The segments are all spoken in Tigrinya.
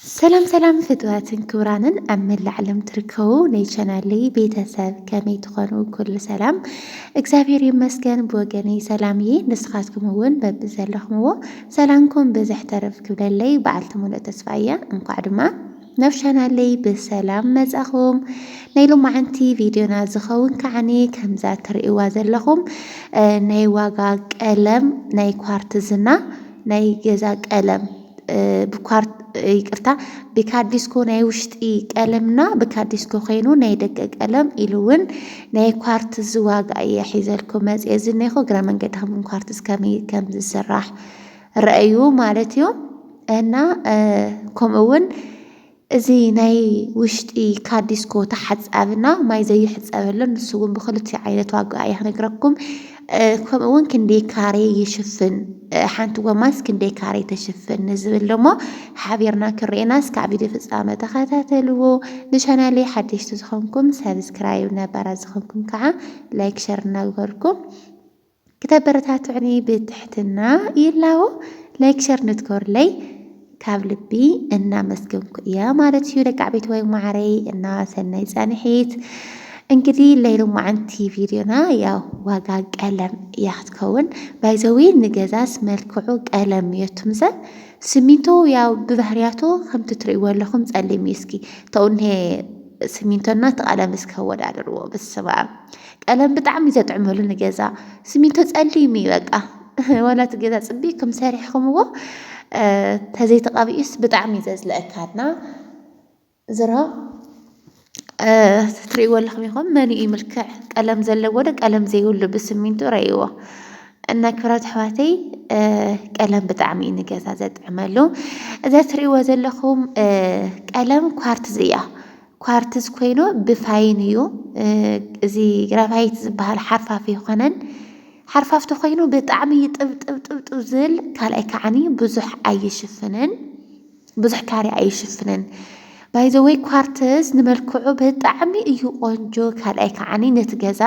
ሰላም ሰላም ፍትዋትን ክብራንን ኣብ መላእ ዓለም ትርከቡ ናይ ቻናለይ ቤተሰብ ከመይ ትኾኑ? ኩሉ ሰላም እግዚኣብሔር ይመስገን ብወገነይ ሰላም እየ። ንስኻትኩም እውን በብዘለኹምዎ ሰላምኩም ብዝሕ ተረፍ ክብለለይ በዓልቲ ሙሉእ ተስፋ እያ። እንኳዕ ድማ ናብ ቻናለይ ብሰላም መጻኹም። ናይ ሎማዓንቲ ቪድዮና ዝኸውን ከዓኒ ከምዛ ትርእይዋ ዘለኹም ናይ ዋጋ ቀለም ናይ ኳርትዝና ናይ ገዛ ቀለም ብኳርት ይቅርታ ብካዲስኮ ናይ ውሽጢ ቀለምና ብካዲስኮ ኮይኑ ናይ ደገ ቀለም ኢሉ እውን ናይ ኳርትዝ ዋጋ እየ ሒዘልኩም መፅየ ዝኒኹ እግረ መንገድኹም ኳርትዝ ከመይ ከም ዝስራሕ ረኣዩ ማለት እዩ እና ከምኡ እውን እዚ ናይ ውሽጢ ካዲስኮ ተሓፃብና ማይ ዘይሕፀበሉ ንሱ እውን ብክልቲኡ ዓይነት ዋጋ እያ ክነግረኩም ከምኡ እውን ክንደይ ካሬ ይሽፍን ሓንቲ ጎማስ ክንደይ ካሬ ተሽፍን ንዝብል ደሞ ሓቢርና ክርኤና እስካዕ ቪድዮ ፍፃመ ተኸታተልዎ ንቻናለይ ሓደሽቲ ዝኾንኩም ሰብስክራይብ ነባራት ዝኾንኩም ከዓ ላይክ ሸር እናግበርኩም ክተበረታቱዕኒ ብትሕትና ይላቦ ላይክ ሸር ንትገሩለይ ካብ ልቢ እናመስገንኩ እያ ማለት እዩ ደቂ ዓበይትወይ ማዕረይ እና ሰናይ ፃንሒት እንግዲህ ለይሎማዓንቲ ቪድዮና ያው ዋጋ ቀለም እያ ክትከውን ባይዘዊ ንገዛስ መልክዑ ቀለም እዮ ትምዘ ስሚንቶ ያው ብባህርያቱ ከምቲ ትርእይዎ ኣለኹም ጸሊም እዩ እስኪ ተውኔ ስሚንቶና ተቐለም እስከ ወዳደርዎ ብስማ ቀለም ብጣዕሚ እዩ ዘጥዕመሉ ንገዛ ስሚንቶ ፀሊም እዩ በቃ ዋላ እቲ ገዛ ፅቢቅኩም ሰሪሕኩምዎ ተዘይተቐቢኡስ ብጣዕሚ እዩ ዘዝለአካና ዝሮ ትሪእዎ ኣለኹም ኢኹም መን እዩ ምልክዕ ቀለም ዘለዎ ዶ ቀለም ዘይብሉ ብስሚንቶ ረእይዎ እና ክብራት ኣሕዋተይ ቀለም ብጣዕሚ እዩ ንገዛ ዘጥዕመሉ እዛ ትሪእዎ ዘለኹም ቀለም ኳርትዝ እያ ኳርትዝ ኮይኑ ብፋይን እዩ እዚ ግራቫይት ዝበሃል ሓርፋፍ ኣይኮነን ሓርፋፍ ተኮይኑ ብጣዕሚ ይጥብጥብጥብጥብ ዝብል ካልኣይ ከዓኒ ብዙሕ ኣይሽፍንን ብዙሕ ካርያ ኣይሽፍንን ባይዘወይ ኳርትዝ ንመልክዑ ብጣዕሚ እዩ ቆንጆ ካልኣይ ከዓኒ ነቲ ገዛ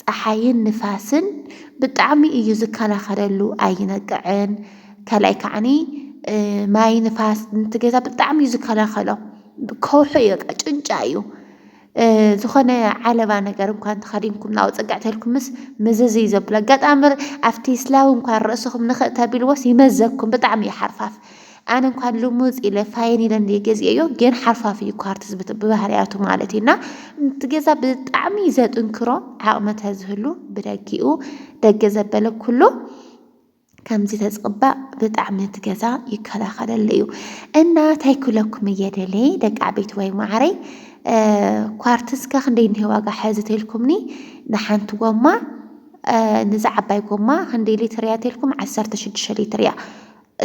ፀሓይን ንፋስን ብጣዕሚ እዩ ዝከላኸለሉ ኣይነቅዕን ካልኣይ ከዓኒ ማይ ንፋስ ነቲ ገዛ ብጣዕሚ እዩ ዝከላኸሎ ከውሒ እዩ በቃ ጭንጫ እዩ ዝኾነ ዓለባ ነገር እኳ እንተኸዲንኩም ናብኡ ፅግዕ ተልኩምስ ምዝዝ እዩ ዘብሎ ኣጋጣሚ ኣብቲ ስላብ እኳ ርእስኹም ንኽእ ተቢልዎስ ይመዘኩም ብጣዕሚ እዩ ሓርፋፍ ኣነ እንኳን ልሙፅ ኢለ ፋይን ኢለ እንደ ገዚኦዮ ግን ሓርፋፍ እዩ ኳርትዝ ብባህርያቱ ማለት እዩና እቲ ገዛ ብጣዕሚ ዘጥንክሮ ዓቕሚ ተዝህሉ ብደጊኡ ደገ ዘበለ ኩሉ ከምዚ ተዝቅባእ ብጣዕሚ እቲ ገዛ ይከላከለሉ እዩ እና ታይ ክለኩም እየ ደሌ ደቂ ዓበይቲ ወይ ማዓረይ ኳርትዝ ከ ክንደይ እኒሀ ዋጋ ሐዚ ተልኩምኒ ንሓንቲ ጎማ ንዛ ዓባይ ጎማ ክንደይ ሊትር እያ ተልኩም ዓሰርተ ሽዱሽተ ሊትር እያ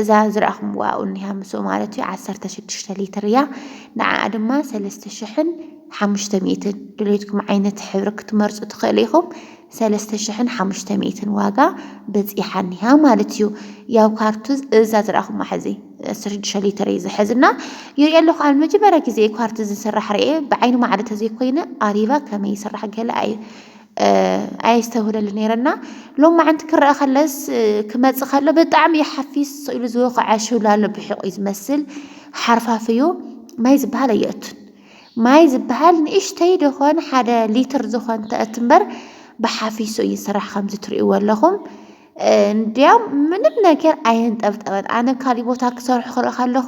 እዛ ዝረኣኹምዋ እኒሃ ምስኡ ማለት እዩ ዓሰርተ ሽዱሽተ ሊትር እያ ንዓኣ ድማ ሰለስተ ሽሕን ሓሙሽተ ሚእትን ድሌትኩም ዓይነት ሕብሪ ክትመርፁ ትኽእሉ ኢኹም ሰለስተ ሽሕን ሓሙሽተ ሚእትን ዋጋ በጺሓ እኒሃ ማለት እዩ። ያው ካርቱዝ እዛ ዝረኣኹማ ሕዚ ዓሰርተ ሽዱሽተ ሊትር እዩ ዝሕዝ እና ይሪኦ ኣለኹ ኣነ መጀመርያ ግዜ እዩ ካርቱዝ ዝስራሕ ርኤ ብዓይኒ ማዕረ ተዘይኮይነ ኣሪባ ከመይ ይስራሕ ገለ ኣይ ኣየስተውህለሉ ነይረና ሎም መዓንቲ ክረአ ከለስ ክመፅእ ከሎ ብጣዕሚ እዩ ሓፊስ ስኢሉ ዝወኸዐ ሽውላሎ ብሒቑ እዩ ዝመስል ሓርፋፍ እዩ ማይ ዝበሃል ኣየእቱን ማይ ዝበሃል ንእሽተይ ደኾን ሓደ ሊትር ዝኾን ተእት እምበር ብሓፊሱ እዩ ዝስራሕ ከምዚ ትርእይዎ ኣለኹም እንዲያም ምንም ነገር ኣየንጠብጠበን ኣነ ካሊእ ቦታ ክሰርሑ ክርኢ ከለኹ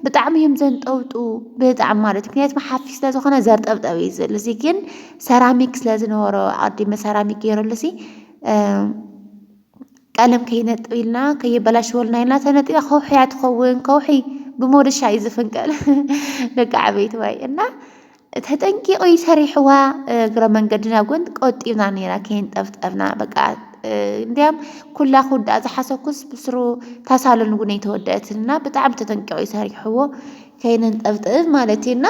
ብጣዕሚ እዮም ዘንጠብጡ ብጣዕሚ ማለት ምክንያቱ ሓፊ ስለ ዝኾነ ዘርጠብጠብ እዩ ዝብል እዚ ግን ሰራሚክ ስለ ዝነበሮ ኣዲመ ሰራሚክ ገይረሉ ሲ ቀለም ከይነጥብ ኢልና ከየበላሽወልና ኢልና ተነጢባ ከውሒ እያ ትኸውን። ከውሒ ብሞደሻ እዩ ዝፍንቀል ደቂ ዓበይቲ ዋይ እና ተጠንቂቑ እዩ ሰሪሕዋ። እግረ መንገድና ጎን ቆጢብና ነይራ ከይንጠፍጠፍና በቃ እንዲያም ኩላ ክውዳእ ዝሓሰኩስ ብስሩ ታሳሎን እውን ኣይተወደአትንና ብጣዕሚ ተጠንቂቑ እዩ ሰሪሕዎ ከይንንጠብጥብ ማለት እዩና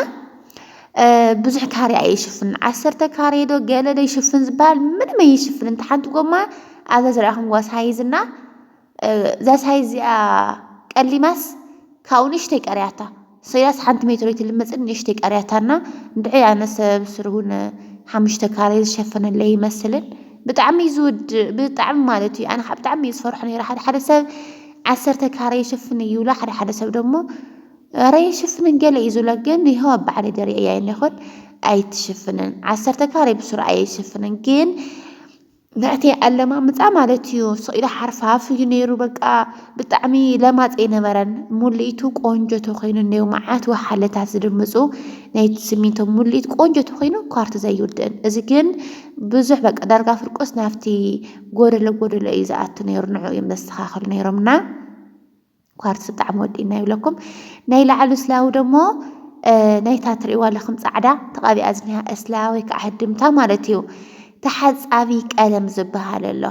ብዙሕ ካሬ ኣይሽፍንን ዓሰርተ ካሬ ዶ ገለ ዶ ይሽፍን ዝባሃል ምንም ኣይሽፍንን እታ ሓንቲ ጎማ ኣብዛ ዝረኣኹምዋ ሳይዝ እና እዛ ሳይዝ እዚኣ ቀሊማስ ካብኡ ንእሽተይ ቀሪያታ ሰያስ ሓንቲ ሜትሮ ኣይትልመፅን ንእሽተይ ቀሪያታ እና እንድዒ ኣነሰ ብስሩ እውን ሓሙሽተ ካሬ ዝሸፈነለይ ኣይመስልን ብጣዕሚ እዩ ዝውድእ ብጣዕሚ ማለት እዩ ኣነ ከዓ ብጣዕሚ እየ ዝፈርሖ ነይረ ሓደ ሓደ ሰብ ዓሰርተ ካሬ ይሽፍን እዩ ይብሉ ሓደ ሓደ ሰብ ደግሞ እረ ይሽፍንን ገለ እዩ ዝብሎ ግን ይኸው ኣብ ባዕለ ደሪዐ እያ ይኹን ኣይትሽፍንን ዓሰርተ ካሬ ብስሩ ኣይሽፍንን ግን ንዕተይ ኣለማምፃ ማለት እዩ ስቕ ኢሉ ሓርፋፍ እዩ ነይሩ በቃ ብጣዕሚ ለማፅ ኣይነበረን ሙልኢቱ ቆንጆ ተኮይኑ እኒኦ መዓት ወሓለታት ዝድምፁ ናይ ስሚንቶ ሙልኢት ቆንጆ ተኮይኑ ኳርቲ ዘይውድእን እዚ ግን ብዙሕ በቃ ዳርጋ ፍርቁስ ናብቲ ጎደሎ ጎደሎ እዩ ዝኣቱ ነይሩ ንዑ እዮም ዘስተኻኽሉ ነይሮምና ኳርትዝ ብጣዕሚ ወዲእና ይብለኩም ናይ ላዕሉ ስላዊ ደሞ ናይታ ትርእዋ ኣለኹም ጻዕዳ ተቓቢኣ ዝኒሃ እስላ ወይ ከዓ ህድምታ ማለት እዩ ተሓጻቢ ቀለም ዝበሃል ኣሎ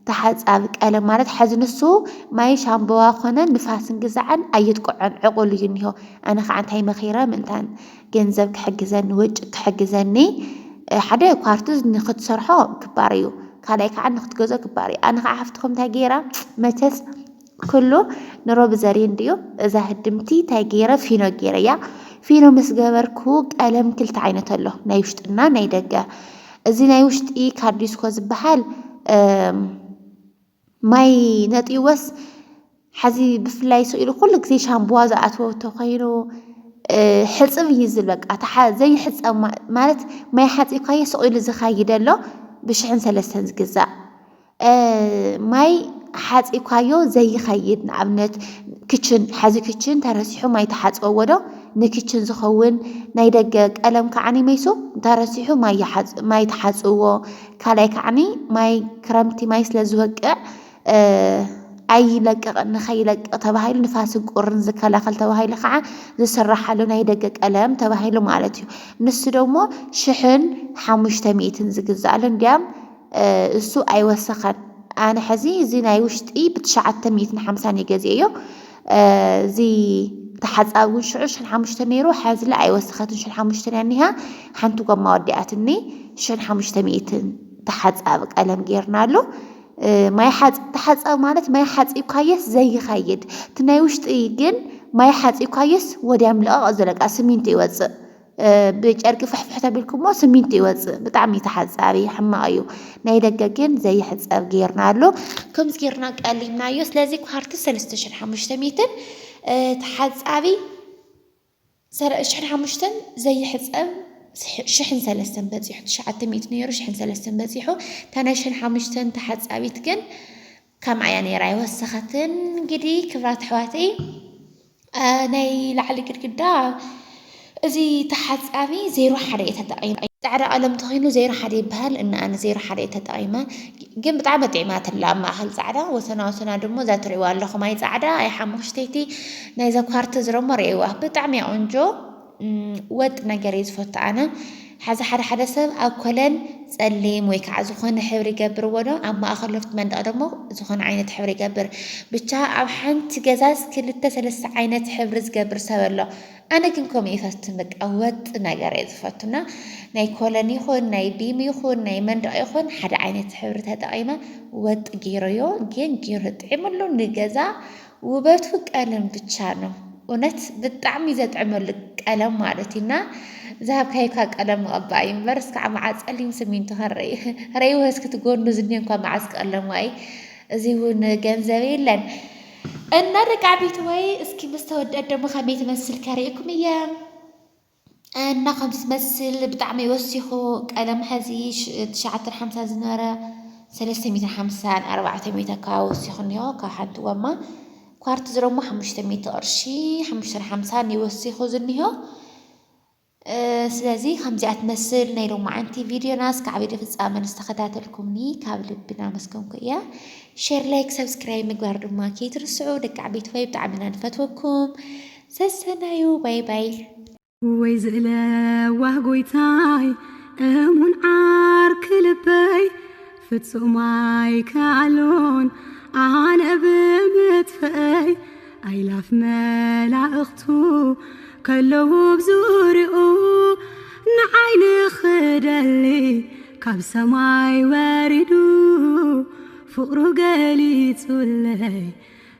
ተሓጻቢ ቀለም ማለት ሐዚ ንሱ ማይ ሻምበዋ ኮነ ንፋስን ግዛዕን ኣየጥቅዖን ዕቑል እዩ እኒሆ ኣነ ከዓ እንታይ መኺረ ምእንታን ገንዘብ ክሕግዘኒ ወጭ ክሕግዘኒ ሓደ ኳርትዝ ንክትሰርሖ ክባር እዩ ካልኣይ ከዓ ንክትገዞ ክባር እዩ ኣነ ከዓ ሓፍትኹም እንታይ ገይራ መቸስ ክሉ ንሮቢ ዘርይ እንድዩ እዛ ህድምቲ ታይ ገይረ ፊኖ ገይረያ ፊኖ ምስ ገበርኩ ቀለም ክልተ ዓይነት ኣሎ ናይ ውሽጢ እና ናይ ደገ እዚ ናይ ውሽጢ ካርዲስኮ ዝበሃል ማይ ነጥይወስ ሓዚ ብፍላይ ስኢሉ ኩሉ ግዜ ሻምቡዋ ዝኣትዎ ተኮይኑ ሕፅብ እዩ ዝብል በቃ ዘይሕፀብ ማለት ማይ ሓፂብካዮ ስቂሉ ዝኸይድ ኣሎ ብሽሕን ሰለስተን ዝግዛእ ማይ ሓጺብካዮ ዘይኸይድ ንኣብነት ክችን ሐዚ ክችን ተረሲሑ ማይ ትሓጽበዎ ዶ? ንክችን ዝኸውን ናይ ደገ ቀለም ከዓኒ መይሱ እንተረሲሑ ማይ ይሓጽ- ማይ ትሓጽብዎ። ካልኣይ ከዓኒ ማይ ክረምቲ ማይ ስለ ዝወቅዕ ኣይለቅቕን ንኸይለቅቕ ተባሂሉ ንፋስን ቁርን ዝከላኸል ተባሂሉ ከዓ ዝስራሕ ኣሎ ናይ ደገ ቀለም ተባሂሉ ማለት እዩ። ንሱ ደሞ ሽሕን ሓሙሽተ ሚእትን ዝግዛእ ኣሎ እንድያም እሱ ኣይወሰኸን ኣነ ሐዚ እዚ ናይ ውሽጢ ብትሽዓተ ሚእትን ሓምሳን እየ ገዚኤዮ እዚ ተሓፃቢ እውን ሽዑ ሽሕን ሓሙሽተን ነይሩ ሐዝለ ኣይወሰኸትን ሽሕን ሓሙሽተን እያ እኒሃ ሓንቲ ጎማ ወዲኣትኒ ሽሕን ሓሙሽተ ሚእትን ተሓፃቢ ቀለም ጌርናሉ ማይ ተሓፃቢ ማለት ማይ ሓፂብካየስ ዘይኸይድ እቲ ናይ ውሽጢ ግን ማይ ሓፂብካየስ ወዲያ ምልቐቕ እዩ ዘለቃ ስሚንቶ ይወፅእ ብጨርቂ ፍሕፍሕ ተቢልኩሞ ስሚንቶ ይወፅእ ብጣዕሚ እዩ ተሓፃቢ ሕማቕ እዩ ናይ ደገ ግን ዘይሕፀብ ጌርናሉ ከምዚ ጌርና ቀሊናዮ ስለዚ ኳርቲ ሰለስተ ሽሕን ሓሙሽተ ሚእትን ተሓፃቢ ሽሕን ሓሙሽተን ዘይሕፀብ ሽሕን ሰለስተን በፂሑ ትሽዓተ ሚእቲ ነይሩ ሽሕን ሰለስተን በፂሑ እታ ናይ ሽሕን ሓሙሽተን ተሓፃቢት ግን ከምኣ እያ ነይራ ኣይወሰኸትን። እንግዲ ክብራት ኣሕዋተይ ናይ ላዕሊ ግድግዳ እዚ ተሓጻቢ ዜሮ ሓደ እየ ተጠቒመ ጻዕዳ ቀለም ተኺኑ ዜሮ ሓደ ይበሃል እና ኣነ ዜሮ ሓደ እየ ተጠቒመ ግን ብጣዕሚ ጥዒማትላ ኣብ ማእኸል ጻዕዳ ወሰና ወሰና ድሞ እዛ ትሪእዋ ኣለኹም ኣይ ጻዕዳ ኣይ ሓሙኽሽተይቲ ናይዛ ኳርትዝ ረሞ ርእይዋ ብጣዕሚ እያ ቆንጆ ወጥ ነገር እየ ዝፈቱ ኣነ ሓዚ ሓደ ሓደ ሰብ ኣብ ኮለን ጸሊም ወይ ከዓ ዝኾነ ሕብሪ ይገብርዎ ዶ ኣብ ማእኸል ሎፍቲ መንደቕ ደሞ ዝኾነ ዓይነት ሕብሪ ይገብር ብቻ ኣብ ሓንቲ ገዛስ ክልተ ሰለስተ ዓይነት ሕብሪ ዝገብር ሰብ ኣሎ ኣነ ግን ከምኡ ይፈትን በቃ ወጥ ነገር እየ ዝፈቱና ናይ ኮለን ይኹን ናይ ቢም ይኹን ናይ መንደቕ ይኹን ሓደ ዓይነት ሕብሪ ተጠቒመ ወጥ ገይረዮ ግን ገይሩ ጥዒምሉ ንገዛ ውበቱ ቀለም ብቻ ነው እውነት ብጣዕሚ ዘጥዕመሉ ቀለም ማለት እዩ እና ዝሃብካይካ ቀለም መቐባእ እዩ እምበር እስካዕ መዓ ፀሊም ስሚንቶ ከረይ ረይ ወስክቲ ጎኑ ዝኒ እንኳ መዓዝ ቀለሙ ኣይ እዚ እውን ገንዘብ የለን እና ደቂ ዓበይቲ ወይ እስኪ ምስ ተወደድ ደግሞ ከመይ ትመስል ከርእየኩም እየ እና ከም ዝመስል ብጣዕሚ ወሲኹ ቀደም ሐዚ ትሽዓተን ሓምሳን ዝነበረ ሰለስተ ሚእትን ሓምሳን ኣርባዕተ ሚእቲ ኣከባቢ ወሲኹ እኒሆ ካብ ሓንቲ ጎማ ኳርትዝ ደሞ ሓሙሽተ ሚእቲ ቅርሺ ሓሙሽተን ሓምሳን እዩ ወሲኹ ዝኒሆ ስለዚ ከምዚኣ ትመስል ናይ ሎማዓንቲ ቪድዮና እስካዕ ቪድዮ ፍፃመ ንዝተኸታተልኩምኒ ካብ ልቢ ናመስገንኩ እያ ሼር ላይክ ሰብስክራይብ ምግባር ድማ ከይትርስዑ ደቂ ዓበይቲ ሆይ ብጣዕሚ ኢና ንፈትወኩም ሰሰናዩ ባይ ባይ። ወይ ዝለዋህ ጎይታይ እሙን ዓርኪ ልበይ ፍጹም ኣይከኣሎን ኣነ ብምጥፍእይ ኣይላፍ መላእኽቱ ከለዉ ኣብ ዙርይኡ ንዓይ ንኽደሊ ካብ ሰማይ ወሪዱ ፍቕሩ ገሊጹለይ